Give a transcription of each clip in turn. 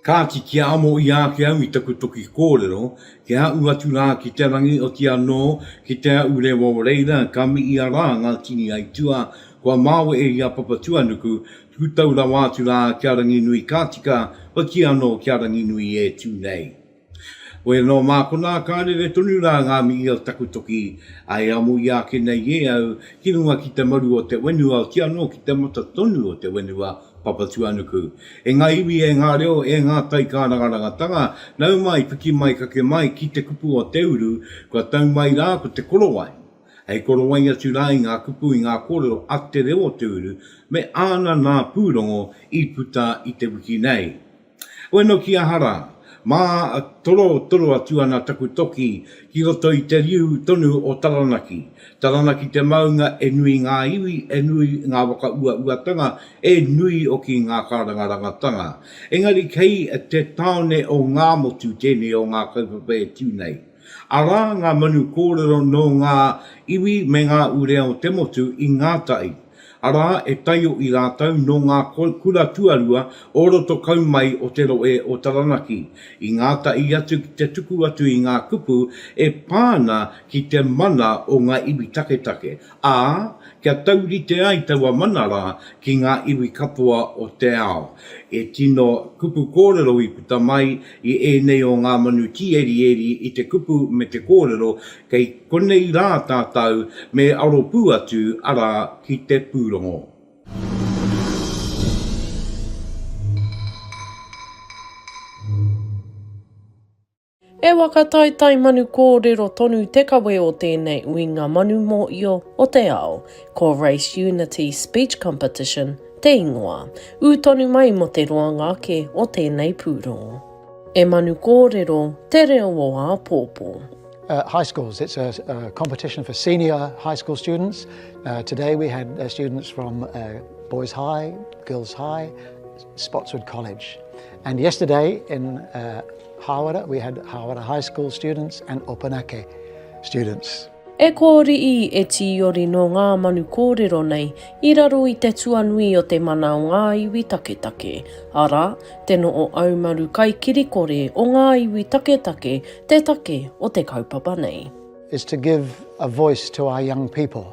Kāti, kia amo i āke au i taku toki kōrero, kia aʻu atu rā ki te rangi oti anō ki te aʻu rewa o reira ka miʻia rā ngā tini aituā kua māwe e ia Papatuanuku, tuku tau rawa atu rā kia Ranginui Kātika, hoki anō kia Ranginui e tū nei. Koe nō mākona ka rere tonu rā ngā mihi o taku toki, a e amu i ake nei e au ki runga ki te maru o te wenua ki anō ki te mata tonu o te wenua Papatuanuku. E ngā iwi e ngā reo e ngā tai kārangarangatanga, nau mai, piki mai, kake mai ki te kupu o te uru, kua tau mai rā ko te korowai. Hei korowai atu rā i ngā kupu i ngā kōrero a te reo o te uru me āna nā pūrongo i puta i te wiki nei. Bueno ki aha ra? Ma toro toro atu ana taku toki ki roto i te riu tonu o Taranaki. Taranaki te maunga e nui nga iwi, e nui nga whakauauatanga, e nui hoki nga karangarangatanga. Engari kei te taone o Ngamotu tenei o nga kaupapa e tu nei. Arā ngā manu kōrero nō ngā iwi me ngā ure o te motu i ngā tai, arā e taio i rātou nō ngā kura tuarua o roto kau mai o te rohe o Taranaki i ngā tai atu ki te tuku atu i ngā kupu e pā ana ki te mana o ngā iwi taketake Ā, kia taurite ai taua mana rā ki ngā iwi katoa o te ao. E tino kupu kōrero i puta mai i ēnei o ngā manu tīerieri i te kupu me te kōrero, kei konei rā tātou me aro pū atu, arā, ki te pūrongo. He waka taetae manu kōrero tonu te kawe o tēnei uinga manu mōio o te ao, ko Race Unity Speech Competition te ingoa, ū tonu mai mō te roanga ake o tēnei pūrongo. E manu kōrero te reo o āpōpō. High schools, it's a competition for senior high school students, today we had students from boys high, girls high, Spotswood College and yesterday in Hāwera we had Hāwera High School students and Opunake students. E kōriī, e tīori nō ngā manu kōrero nei i raro i te tuanui o te mana o ngā iwi taketake, arā, te noho aumaru kaikirikore o ngā iwi taketake te take o te kaupapa nei. is to give a voice to our young people.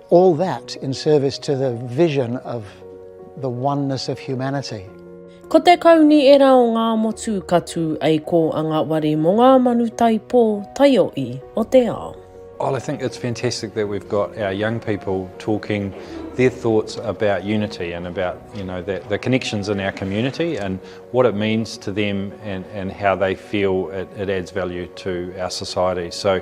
All that in service to the vision of the oneness of humanity. Ko te kauni era o ngā motu ka tū ei kō a ngā wari mō ngā manu taipō, taioʻi o te ao. Well, I think it's fantastic that we've got our young people talking their thoughts about unity and about you know the, the connections in our community and what it means to them and, and how they feel it, it adds value to our society. So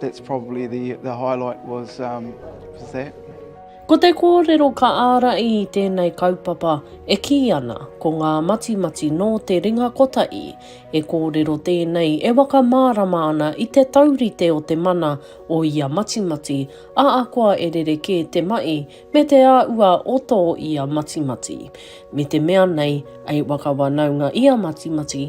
That's probably the, the highlight was, um, was that. Ko te kōrero ka ārai i tēnei kaupapa e kī ana ko ngā matimati nō te ringa kotahi. He kōrero tēnei e wakamārama ana i te taurite o te mana o ia matimati, ahakoa e rerekē te mahi me te āhua o tō ia matimati. Me te mea nei, hei wakawanaunga ia matimati,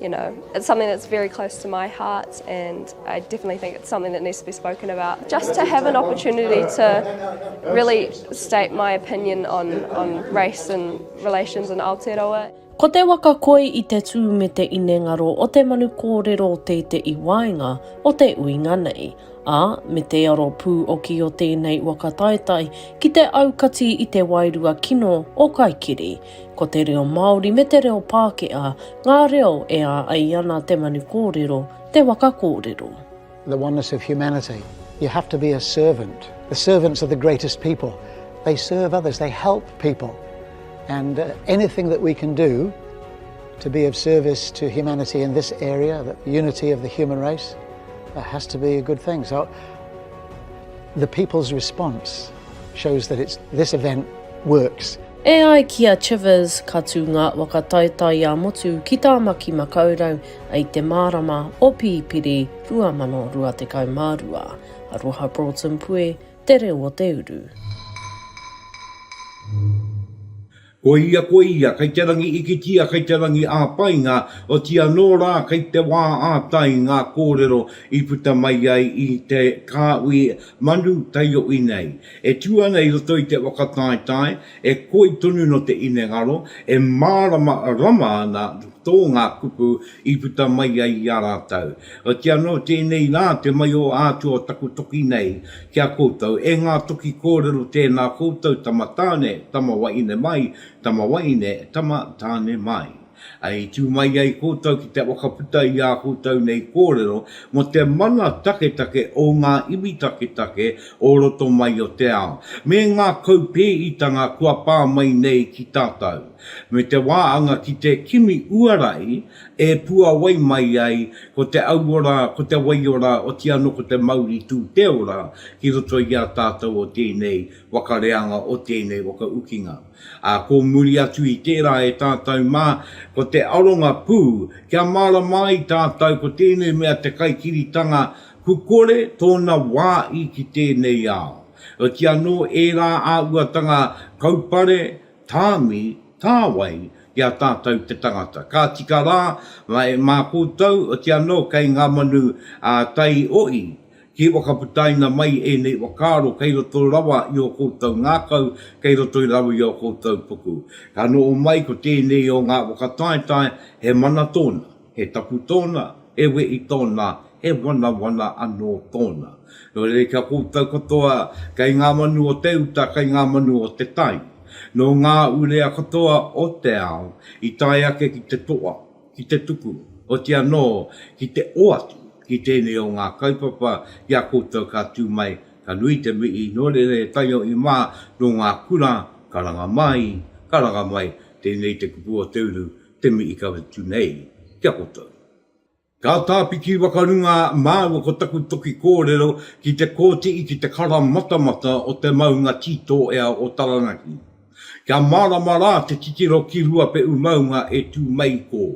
You know, it's something that's very close to my heart and I definitely think it's something that needs to be spoken about. Just to have an opportunity to really state my opinion on, on race and relations in Aotearoa. Ko te waka koi i te tū me te inengaro o te manu kōrero te te i waenga o te uinga nei, a me te aro pū oki o tēnei waka taetae ki te aukati i te wairua kino o Kaikiri. Ko te reo Māori me te reo Pākehā ngā reo e ā ai ana te manu kōrero, te waka kōrero. The oneness of humanity, you have to be a servant, the servants are the greatest people, they serve others, they help people and anything that we can do to be of service to humanity in this area, the unity of the human race, it has to be a good thing. So the people's response. Shows that it's this event works. E ai ki a Chivers, ka tū ngā waka taetae ā-motu ki Tāmaki Makaurau i te mārama o Pipiri 2022. Aroha Broughton Pue, Te Reo o Te Uru. Ko ia ko ia kei te rangi ikitia kei te rangi ā-painga, oti anō rā kei te wā ā-tai ngā kōrero i puta mai ai i te kāhui manu taioʻi nei. E tū ana i roto i te whakataetae, e koi tonu no te inengaro, e mārama rama ana tō ngā kupu, I puta mai ai i a rātou. Oti anō tēnei rā te mai o ātou o taku toki nei ki a koutou, e ngā toki kōrero tēnā koutou tama tāne, tama wahine mai, tama wahine, tama tāne mai. I tū mai ai koutou ki te whakaputa i ā koutou nei kōrero mō te mana taketake o ngā iwi taketake o roto mai o te ao, me ngā kaupēhitanga kua pā mai nei ki tātou. me te wāanga ki te kimi uarai e puawai mai ai ko te auora, ko te waiora, oti anō ko te mauri tū te ora ki roto i a tātou o tēnei waka reanga, o tēnei waka ukinga. Ā, ko muri atu i tērā e tātou mā, ko te aronga pū, kia mārama ai tātou ko tēnei mea te kaikiritanga kukore tōna wā i ki tēnei ao. Oti anō ērā āhuatanga kaupare, Tāmi, Tāwai, ki a tātou te tangata. Ka tika rā, mai, mā koutou, oti anō kei ngā manu a Tai Oʻi, ki whakaputaina mai ēnei whakaaro kei roto rawa i ō koutou ngākau, kei roto rawa i ō koutou puku. Ka noho mai ko tēnei o ngā whakataetae, he mana tōna. He tapu tōna, he wehi tōna, he wanawana anō tōna. Nō reira kia koutou katoa, kei ngā manu o te uta, kei ngā manu o te tai. Nō ngā urea katoa o te ao i tae ake ki te toa, ki te tuku, oti anō ki te oati ki tēnei o ngā kaupapa ki a koutou ka tū mai, ka nui te mihi, nō reira e taiohi mā, nō ngā kura, karanga mai, karanga mai, tēnei te kupu o te uru, Te mihi ka utu nei, kia koutou. Ka tāpiki wakarunga māua ko taku toki kōrero ki te kōtii ki te kara matamata o te maunga tītōea o Taranaki. Kia mārama rā te titiro ki Ruapeʻu maunga e tū mai i kō.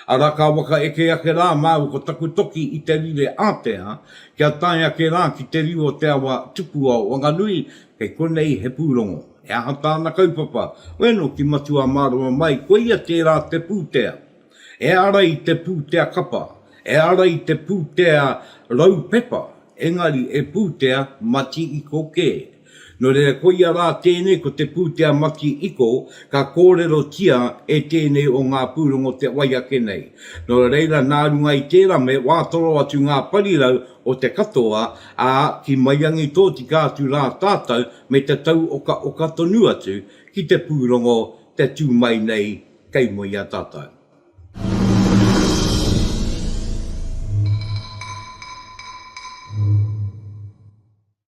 Ara ka waka eke ake rā māua ko taku toki i te rire ātea kia tae ake rā ki te riu o te awa Tupuao Wanganui Kei konei he pūrongo. He aha tāna kaupapa? Bueno, ki Matua Mārama mai, koia tērā te pūtea. E ara i te pūtea kapa, e ara i te pūtea rau pepa, engari e pūtea mati iko kē. Nō reira koia rā tēnei ko te pūtea mati iko ka kōrerotia e tēnei o ngā pūrongo te wai ake nei. Nō reira nā runga i tērā me wātoro atu ngā parirau o te katoa, ā, ki maiangi tōtika atu rā tātou me te tau okaoka tonu atu ki te pūrongo te tū mai nei kei mua i a tātou.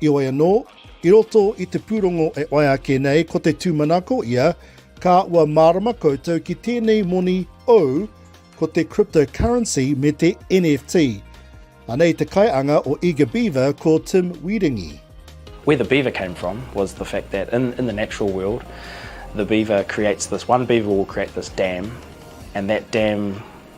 Heoi anō, i roto i te pūrongo e whai ake nei ko te tūmanako ia, ka ua mārama koutou ki tēnei moni ou ko te cryptocurrency me te NFT. Anei te kaianga o Eager Beaver ko Tim Wierengi. Where the beaver came from was the fact that in in the natural world the beaver creates this one beaver will create this dam and that dam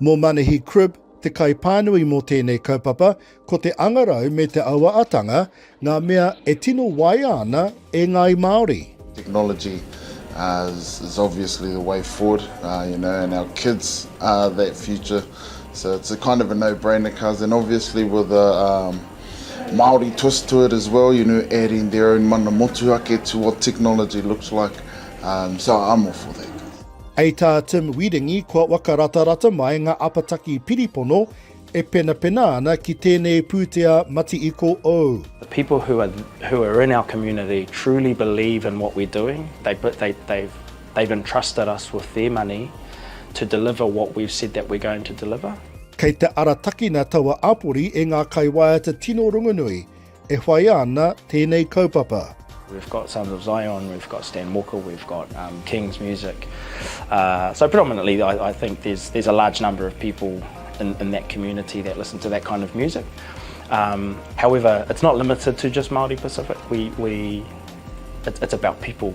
Mō Manahi Cribb, te kaipānui mō tēnei kaupapa, ko te angarau me te awa-atanga ngā mea e tino waia ana e ngāi Māori. Technology is is obviously the way forward you know and our kids are that future so it's a kind of a no brainer cuz and obviously with a um Māori twist to it as well you know adding their own mana motuhake to what technology looks like um so I'm all for that. Hei tā Tim Wieringi kua wakaratarata mai ngā apataki piripono e penapena ana ki tēnei pūtea Mati-iko ou. The people who are who are in our community truly believe in what we're doing, they they they've they've entrusted us with their money to deliver what we've said that we're going to deliver. Kei te aratakina taua āpori e ngā kaiwaiata tino rongonui, E whaia ana tēnei kaupapa. We've got Sons of Zion, we've got Stan Walker, we've got King's Music. So predominantly I think there's a large number of people in that community that listen to that kind of music. However, it's not limited to just Māori Pacific, it's about people.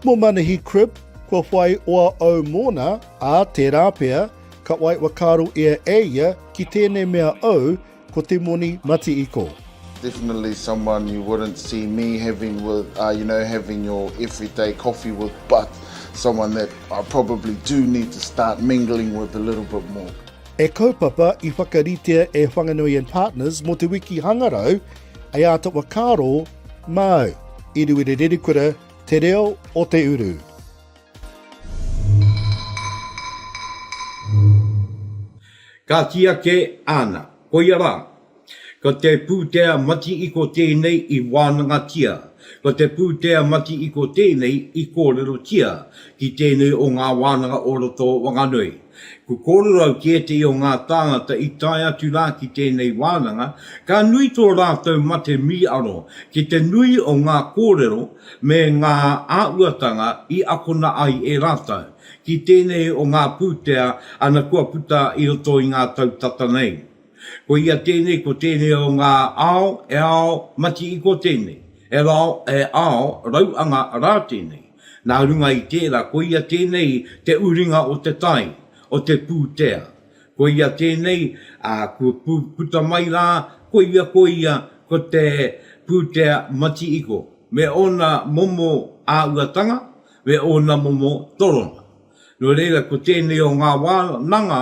Mō Manahi Cribb, kua whai oa au mōna, ā, tērā pea, ka waiwakaro ia e ia ki tēnei mea au Ko te moni mati iko. Definitely someone you wouldn't see me having with, uh, you know, having your everyday coffee with, but someone that I probably do need to start mingling with a little bit more. He kaupapa i whakaritea e Whanganui and Partners mō te wiki hangarau hei āta whakaaro māu i Ruere Rerekura te reo o te uru. Ka kī ake, Āna, koia rā. Ko te pūtea mati-iko tēnei i wānangatia, ko te pūtea mati-iko tēnei i kōrerotia ki tēnei o ngā wānanga o roto o Wanganui. Ko kōrerau ki ētehi o ngā tāngata i tae atu rā ki tēnei wānanga, ka nui tō rātou mate mīaro ki te nui o ngā kōrero me ngā āhuatanga i akona ai e rātou, ki tēnei o ngā pūtea ana kua puta i roto i ngā tau tata nei. Ko ia tēnei ko tēnei o ngā ao e ao mati-iko tēnei, e rao e ao rauanga rā tēnei. Nā runga i tērā ko ia tēnei te uringa o te tai, o te pūtea. Ko ia tēnei, ā, kua puta mai rā, ko ia ko ia ko te pūtea mati-iko, me ōna momo āuatanga, me ōna momo torona. Nō reira, ko tēnei o ngā wānanga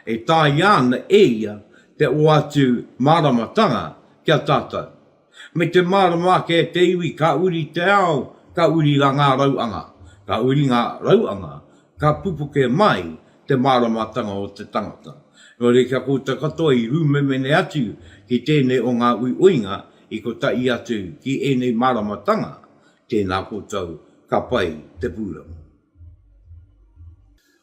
e tāia ana e ia te oatu māramatanga ki a tātou. Me te mārama ake e te iwi ka uri te ao, ka uri rā ngā rauanga, ka uri ngā rauanga, ka pupuke mai te māramatanga o te tangata. Nō reira kia koutou katoa i rūmemene atu ki tēnei o ngā uiuinga i kotahi atu ki ēnei māramatanga Tēnā koutou, ka pai te pūranga.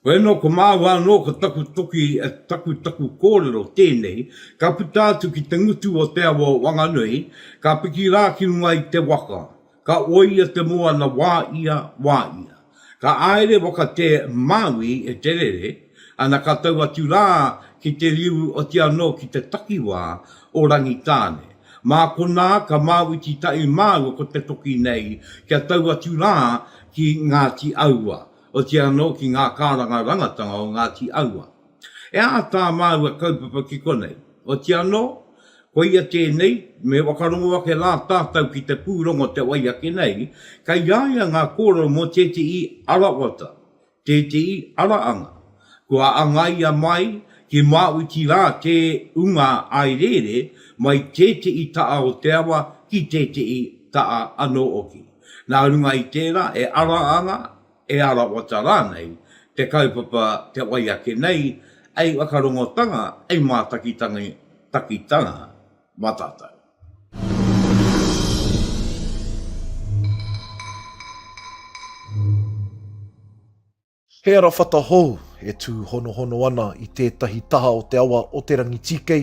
Hoi anō, ko māua anō ko taku toki, taku taku kōrero tēnei, ka puta atu ki te ngutu o te awa o Wanganui, ka piki rā ki runga i te waka, ka oia te moana wā ia, wā ia. Ka āere whakatē Māui e te rere, ana ka tau atu rā ki te riu oti anō ki te takiwā o Rangitāne. Mā konā ka māuiti tahi māua ko te toki nei kia tau atu rā ki Ngāti Aua, oti anō ki ngā kārangarangatanga o Ngāti Aua. E aha tā māua kaupapa ki konei? Oti anō, koia tēnei, me whakarongo ake rā tātau ki te pūrongo o te wai ake nei, kei a ia ngā kōrero mō tētehi ara wata, tētehi ara anga. Kua angaia mai ki Māuti rā te unga aerēre mai tētehi taha o te awa ki tētehi taha anō hoki. Nā runga i tērā, he ara anga, e arawata rānei te kaupapa te wai ake nei hei whakarongotanga, hei mātakitakitanga mā tātou. He arawhata hou e tūhonohono ana i tētahi taha o te awa o Te Rangitīkei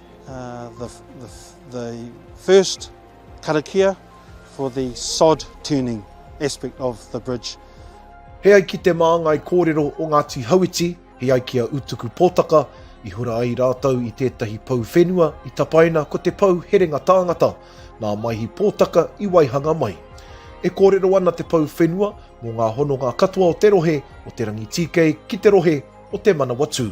the, the, the first karakia for the sod turning aspect of the bridge. He ai ki te māngai kōrero o Ngāti Hauiti, he ai ki a Utuku Pōtaka, i hura ai rātou i tētahi pou whenua i tapaina ko te pou herenga tāngata, nā Maihi Pōtaka i waihanga mai. E kōrero ana te pou whenua mō ngā hononga katoa o te rohe o Te Rangitīkei ki te rohe o Te Manawatū.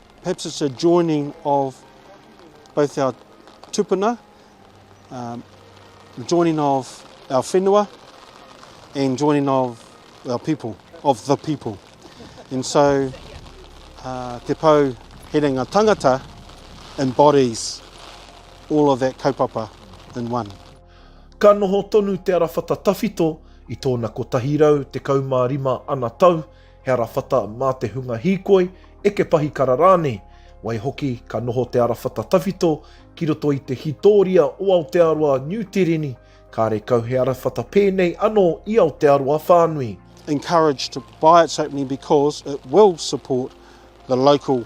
Perhaps it's a joining of both our tupuna, um, joining of our whenua and joining of our people, of the people. And so uh, te pau herenga tangata embodies all of that kaupapa in one. Ka noho tonu Te Arawhata Tawhito i tōna 115 ana tau He arawhata mā te hunga hīkoi, eke pahikara rānei. Waihoki, ka noho te arawhata tawhito ki roto i te hītōria o Aotearoa Niu Tireni, kāre kau he arawhata pēnei anō i Aotearoa whānui. encourage to buy its opening because it will support the local.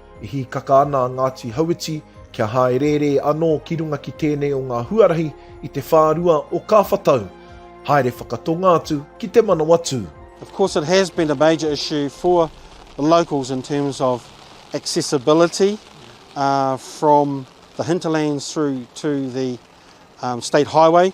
E hīkaka ana a Ngāti Hauiti kia hāereere anō ki runga ki tēnei o ngā huarahi i te whārua o Kāwhatau. Haere whakatonga atu ki te Manawatū. Of course it has been a major issue for the locals in terms of accessibility from the hinterlands through to the state highway.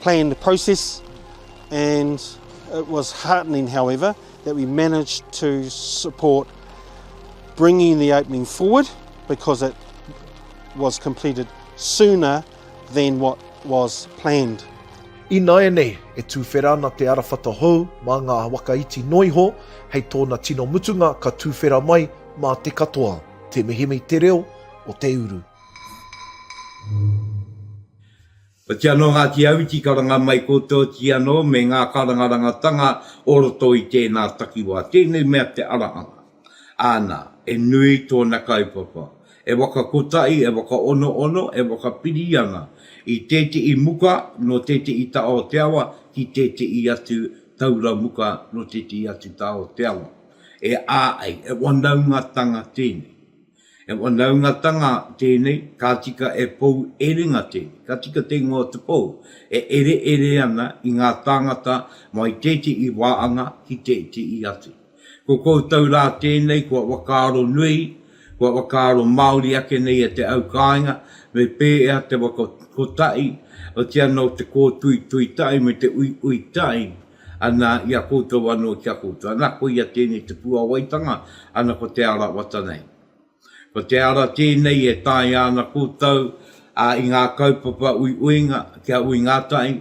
planned process and it was heartening however that we managed to support bringing the opening forward because it was completed sooner than what was planned. Ināianei, e tuwhera ana te arawhata hou mā ngā waka iti noa iho, hei tōna tino mutunga ka tuwhera mai mā te katoa. Te Mihimi te reo o te uru. Oti anō Ngāti Auti karanga mai koutou oti anō me ngā karangarangatanga o roto i tēnā takiwā, tēnei mea te ara anga. Āna, e nui tōna kaupapa, e whakakotahi, e whakaonoono, e whakapiri ana i tētehi muka nō tētehi taha o te awa ki tētehi atu taura muka nō tētehi atu taha o te awa. E āei, e whanaungatanga tēnei. He whanaungatanga tēnei, ka tika e pou erenga tēnei, ka tika te ingoa o te pou e ereere ana i ngā tāngata mō i tētehi wāhanga ki tētehi atu. Ko koutou rā tēnei kua whakaaro nui, kua whakaaro māori ake nei e te aukāinga, me pēhea te waka kotahi, otiano te kōtuitui tahi me te uiui tahi, Ana, i a koutou anō ki a koutou. Ana, koia tēnei te puāwaitanga, ana, ko te ara wata nei. Ko te ara tēnei e taea ana koutou, ā, i ngā kaupapa uiuinga, kia uinga tahi,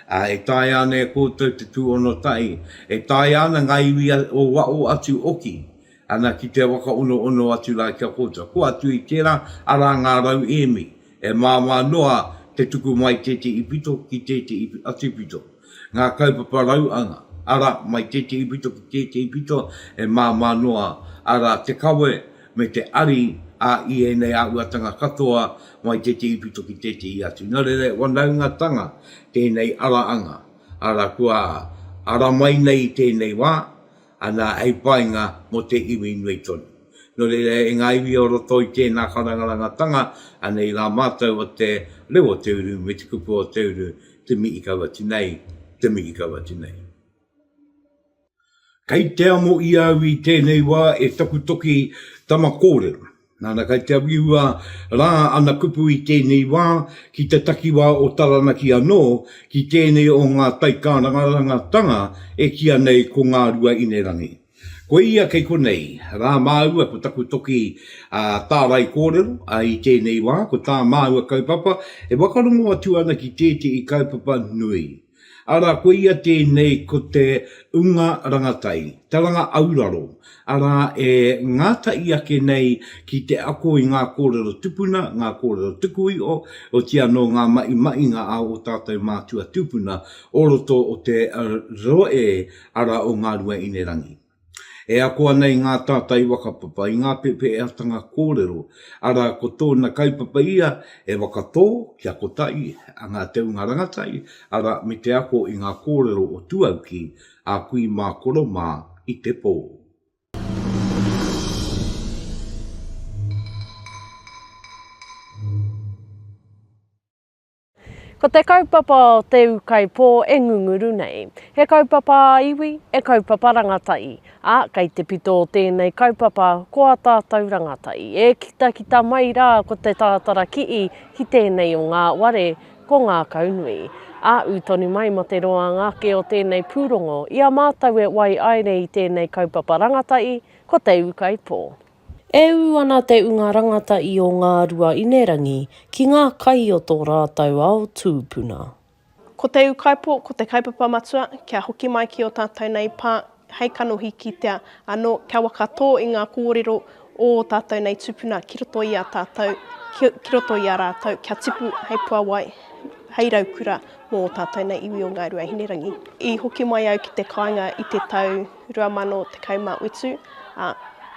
ā, e taea ana e koutou te tūhono tahi, e taea ana ngā iwi o waho atu hoki, ana, ki te whakaonoono atu rā ki a koutou. Kua atu i tērā, arā ngā rauemi, e māmā noa te tuku mai tētehi pito ki tētehi atu pito. Ngā kaupapa rauanga, arā, mai tētehi pito ki tētehi pito, e māmā noa, arā, te kawe me te ari a i ēnei āhuatanga katoa mai tētehi pito ki tētehi atu. Nō reira, he whanaungatanga tēnei ara anga, arā, kua ara mai nei i tēnei wā, ana hei painga mō te iwi nui tonu. Nō reira, e ngā iwi o roto i tēnā karangarangatanga, anei rā mātou o te reo o te uru me te kupu o te uru, te mihi kau atu nei, te mihi kau atu nei. Kei te amo i au i tēnei wā e taku toki tama kōrero. Nana kai te awiua rā ana kupu i tēnei wā ki te takiwā o Taranaki anō, ki tēnei o ngā taikārangarangatanga e kīa nei ko Ngā Rua Inerangi. Koia kei konei rā māua ko taku toki tārai kōrero i tēnei wā, ko tā māua kaupapa e whakarongo atu ana ki tētehi kaupapa nui. Arā, koia tēnei ko te Unga Rangatai, Taranga Auraro, arā, e ngātahi ake nei ki te ako i ngā kōrero tupuna, ngā kōrero tuku iho, otīi anō ngā mahimahinga a ō tātou mātua tūpuna o roto o te rohe ara o Ngāruaīnerangi. E ako ana i ngā tātai whakapapa, i ngā pēwheatanga kōrero, arā, ko tōna kaupapa ia e whakatō kia kotahi ngā teunga rangataki, arā, me te ako i ngā kōrero o tuauki, a kui mā, koro mā, i te pō. Ko te kaupapa o Te Ūkaipō e ngunguru nei. He kaupapa ā-iwi, he kaupapa rangatahi, ā, kei te pito o tēnei kaupapa ko ā tātou rangatahi. E kitakita mai rā ko Te Tātara Ki'i ki tēnei o ngā ware, ko Ngākaunui. Ā, ū tonu mai mō te roanga ake o tēnei pūrongo, i a mātou e waiaere i tēnei kaupapa rangatahi, ko Te Ūkaipō. E ū ana te ūnga rangata i o Ngārua Inerangi ki ngā kai o tō rātou ao tūpuna. Ko te ūkaipō, ko te kaupapa matua, kia hoki mai ki ō tātou nei pā, hei kanohi kitea anō, kia whakatō i ngā kōrero o ō tātou nei tūpuna ki roto i a tātou, ki, ki roto i a rātou, kia tipu hei puawai, hei raukura mō ō tātou nei iwi o Ngāi Rua Hinerangi. I hoki mai au ki te kāinga i te tau 2017, ā,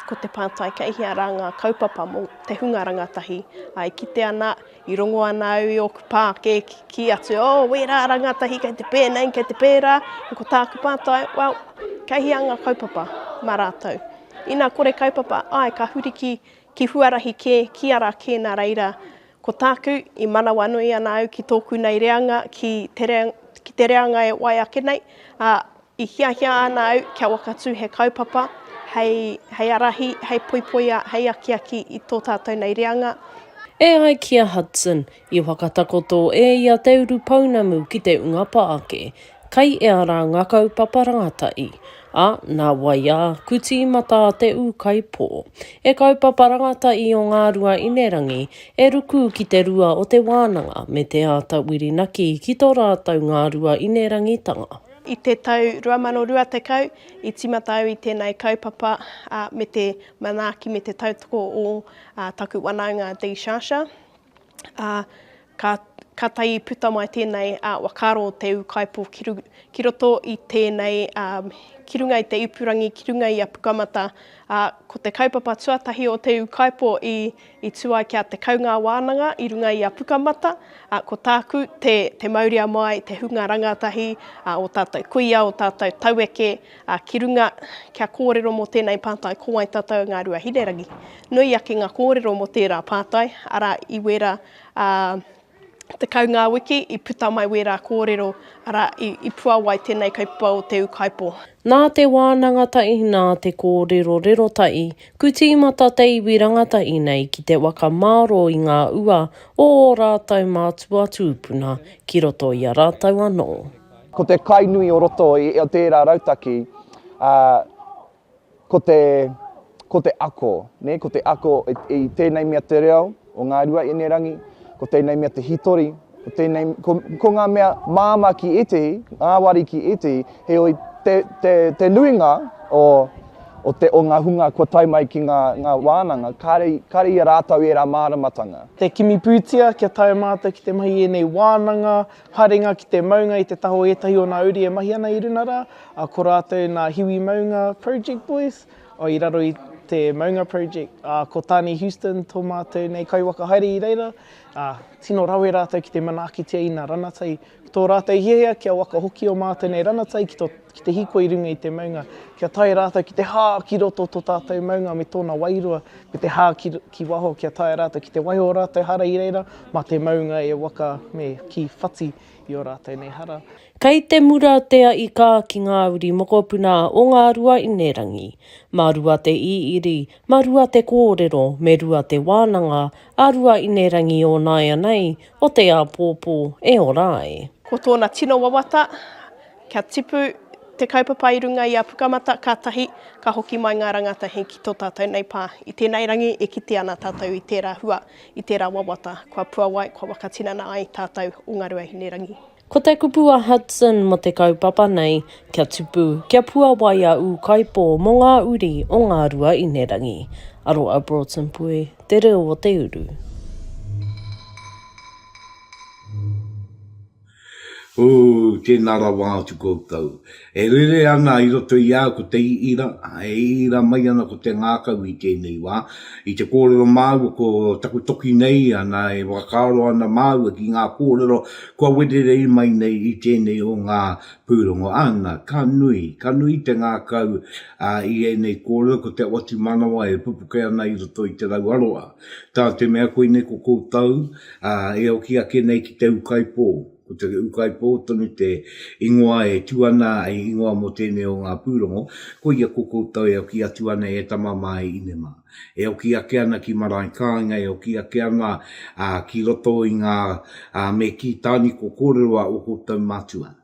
ko te pātai kei hea rā ngā kaupapa mō te hunga rangatahi, ā, e kite ana, i rongo ana au i ōku pā kē kī atu, ō, wērā rangatahi kei te pēnei, kei te pērā, ā, ko tāku pātai, well, kei hea ngā kaupapa mā rātou? Inā kore kaupapa, āe, ka huri ki, ki huarahi kē, ki ara kē nā reira, Ko tāku, i manawanui ana au ki tōku nei reanga, ki te reanga e wai ake nei, ā, i hiahia ana au kia wakatū he kaupapa hei arahi, hei poipoia, hei akiaki i tō tātou nei reanga. E ai ki a Hudson, i whakatakoto e ia te urupounamu ki te ungapa ake. Kai ea ra nga kaupapa rangatai. A, na wai a, ku tiimata te ukaipō. E kaupapa rangatai o Ngarua Inerangi, e ruku ki te rua o te wānanga me te ata Wirinaki ki to ratou Ngarua Inerangitanga. I te tau 2020, i timata au i tenei kaupapa me te manaaki me te tautoko o taku wanaunga Dee Shasha. ā, ka, ka tae puta mai tēnei ā, whakaaro o te ūkaipō ki, ru, ki roto i tēnei, ā, ki runga i te ipurangi, ki runga i a Pukamata, ā, ko te kaupapa tuatahi o te ūkaipō i, i tū ai ki a Te Kaungā Wānanga i runga i a Pukamata, ā, ko tāku te, te mauria mai te hunga rangatahi ā, o tātou kuia, o tātou taueke, Ā, ki runga, kia kōrero mō tēnei pātai ko wai tātou ngā rua hinerangi. Nui ake ngā kōrero mō tērā pātai, arā, i wērā ā, tekau ngā wiki i puta mai wērā kōrero, arā, i, i puawai tēnei kaupapa o Te Ūkaipō. Nā te wānanga taʻi, nā te kōrerorero taʻi, ku tīmata te iwi rangatahi nei ki te waka mārō i ngā ua o ō rātou mātua tūpuna ki roto i a rātou anō. Ko te kai nui o roto i tērā rautaki, ā, ko te, ko te ako, nē, ko te ako i tēnei mea te reo o Ngāruaienerangi, ko tēnei mea te hitori, ko tēnei, ko, ko ngā mea māmā ki ētehi, ngāwari ki ētehi, heoi, te, te, te nuinga o, o, te, o ngā hunga kua tae mai ki ngā, ngā wānanga, kāre, kāre i a rātou ērā māramatanga. Te kimi pūtia kia tae mātou ki te mahi i ēnei wānanga, Haerenga ki te maunga i te taha o ētahi o nā uri e mahi ana i runa rā, ā, ko rātou nā Hiwi Maunga Project Boys, ā, i raro i te Maunga Project, ā, ko Tāne Houston tō mātou nei kaiwaka haere i reira, ā, tino rawe rātou ki te manaakitia i nā ranatai. Ko tō rātou hiahia kia waka hoki ō mātou nei ranatai ki tō. ki te hiko i runga i te maunga, kia tae rātou ki te hā ki roto o tō tātou maunga me tōna wairua, me te hā ki, ki waho, kia tae rātou ki te wahi o ō rātou hara i reira, mā te maunga e waka me kī whati i ō rātou nei hara. Kei te mura te aʻi kā ki ngā uri mokopuna o ngā ruainerangi. Mā rua te īiri, mā rua te kōrero, me rua te wānanga a ruainerangi o nāianei, o te āpōpō e ora ai. Ko tōna tino wawata, Kia tipu te kaupapa i runga i a Pukamata kātahi ka hoki mai ngā rangatahi ki tō tātou nei pā. I tēnei rangi e kite ana tātou i tērā hua, i tērā wawata kua puawai, kua whakatinana ai tātou o Ngā Ruahinerangi. Ko te kupu a Hudson mō te kaupapa nei, kia tipu, kia puawai a Ūkaipō mō ngā uri o Ngā Ruahinerangi. Aroa Broughton Pue, Te Reo o te Uru. Ooh, tēnā rawa atu koutou. E rere ana i roto i a au ko te ira, e ira mai ana ko te ngākau i tēnei wā. I te kōrero māua ko taku toki nei, ana e whakaaro ana māua ki ngā kōrero kua wererei mai nei i tēnei o ngā pūrongo. Ana, ka nui, ka nui te ngākau i ēnei kōrero, ko te otimanawa e pupuke ana i roto i te rau aroha. Tā te mea koinei ko koutou e oki ake nei ki te ūkaipō, ko te ūkaipō tonu te ingoa e tū ana hei ingoa mō tēnei o ngā pūrongo, koia ko koutou e oki atu ana e Tama mā, e Ine mā. E oki ake ana ki marae kāinga, e oki ake ana ki roto i ngā me kī tāniko kōrero a ō koutou mātua.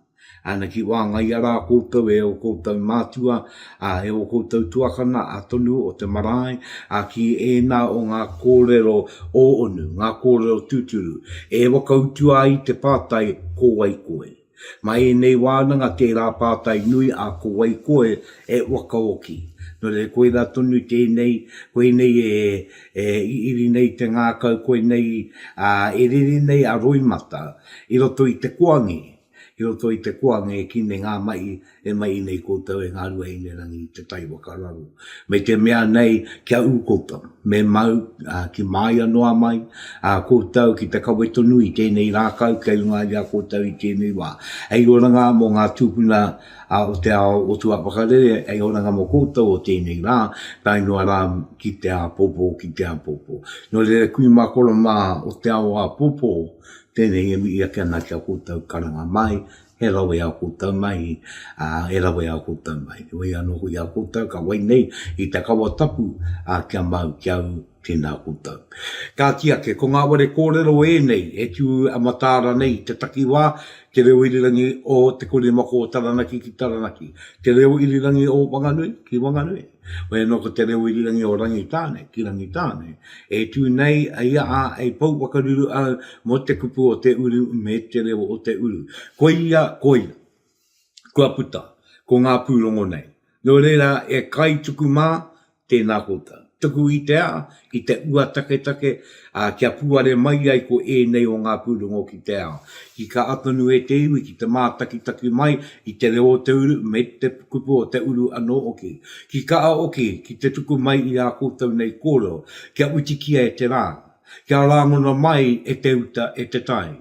Ana ki wāngaia rā koutou e o koutou mātua, ā, e o koutou tuakana, ā tonu o te marae, ā, ki ēnā o ngā kōrero ō onu, ngā kōrero tūturu, e whakautua ai te pātai, Ko wai koe? Ma ēnei wānanga tērā pātai nui a ko wai koe e whakaoki. Nō reira koirā tonu tēnei, koinei e, e iri nei te ngākau, koinei, ā, e rere nei a roimata, I roto i te koangi, i roto i te koangi e kine ngā mahi e mahi nei koutou e ngā ruahinerangi i te tai waka raro. Me te mea nei kia ū koutou, me mau ki māia noa mai a koutou ki te kawe tonu i tēnei rākau kei runga i a koutou i tēnei wā. Hei oranga mō ngā tūpuna o te ao o tua whakarere, hei oranga mō koutou o tēnei rā, tae noa rā ki te āpōpō, ki te āpōpō. Nō reira kui mā koro mā o te ao āpōpō, tēnei e mihi ake ana ki a koutou karanga mahi, he rawe ā koutou mahi, ā, he rawe ā koutou mahi. He wai anō hoki a koutou ka wai nei i te kawa tapu, ā, kia mau ki a au, tēnā koutou. Kāti ake, ko ngā ware kōrero ēnei e tū a Mataara nei i te takiwā, Te Reo Irirangi o Te Korimako o Taranaki ki Taranaki, Te Reo Irirangi o Wanganui ki Wanganui. Wai anō ko Te Rewirirangi o Rangitāne ki Rangitāne, e tū nei a ia ā, e pou whakaruru au mō te kupu o te uru me te reo o te uru. Koia, koia. Kua puta, ko ngā pūrongo nei. Nō reira, e Kaituku mā, tēnā koutou. Tuku i te aha, ki te ua taketake, ā, kia puare mai ai ko ēnei o ngā pūrongo ki te ao. Tika a tonu e te iwi ki te mātakitaki mai i te reo o te uru me te kupu o te uru anō hoki. Ki kaha hoki ki te tuku mai i ā koutou nei kōrero, kia witikia e te rā, kia rāngona mai e te uta, e te tai.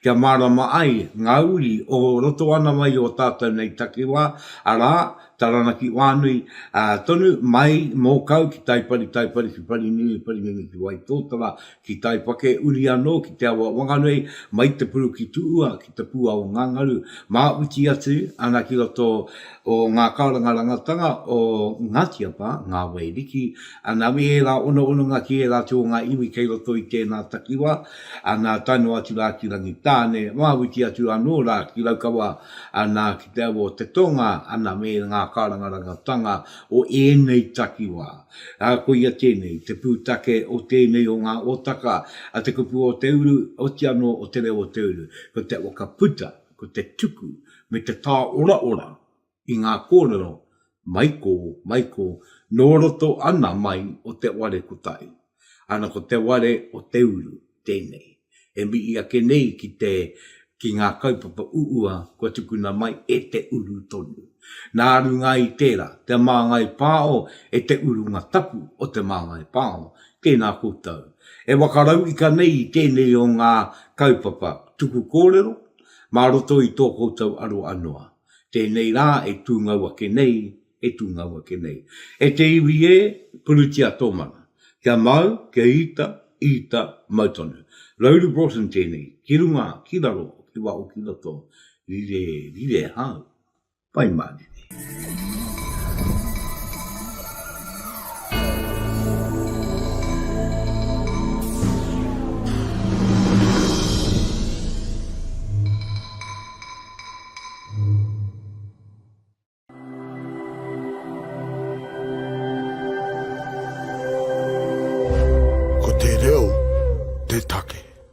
Kia mārama ai ngā uri o roto ana mai i ō tātou nei takiwā, arā, Taranaki wānui, ā, tonu mai mō kau ki Taipari, Taipari ki Parinini, Parinini ki Waitōtara, ki Taipake, uri anō ki te awa Wanganui, mai te puru ki Tūua, ki te pūao o Ngāngaru, māuti atu ana ki roto o ngā karanga rangatanga o Ngāti Apa, ngā wai riki, ana me ērā ono ononga ki ērā atu o ngā iwi kei roto i tēnā takiwā, ana tae noa atu rā ki Rangitāne, māuti atu anō rā ki Raukawa, Nā, ki te aua o te tonga, ana, me ngā kārangarangatanga o ēnei takiwā. Ā, koia tēnei, te pūtake o tēnei o ngā otaka a te kupu o te uru, oti anō o te reo o te uru, ko te whakaputa, ko te tuku, me te tāoraora i ngā kōrero mai kō, mai kō, nō roto ana mai o te ware kotahi. Ana ko te ware o te uru tēnei e mihi ake nei ki te ki ngā kaupapa uua kua tukuna mai e te uru tonu. Nā runga i tērā, te māngai pāo e te urunga tapu o te māngai pāo, tēnā koutou e wakarauika nei i tēnei o ngā kaupapa tuku kōrero mā roto i tō koutou aroa noa, tēnei rā e tūngau ake nei, e tūngau ake nei. E te iwi ē, purutia tō mana. Kia mau, kia ita, ita, mau tonu. Rauru Broughton tēnei, ki runga, ki raro, ki waho, ki roto, rire, rire hau. Pai mārire. Ko te reo te take.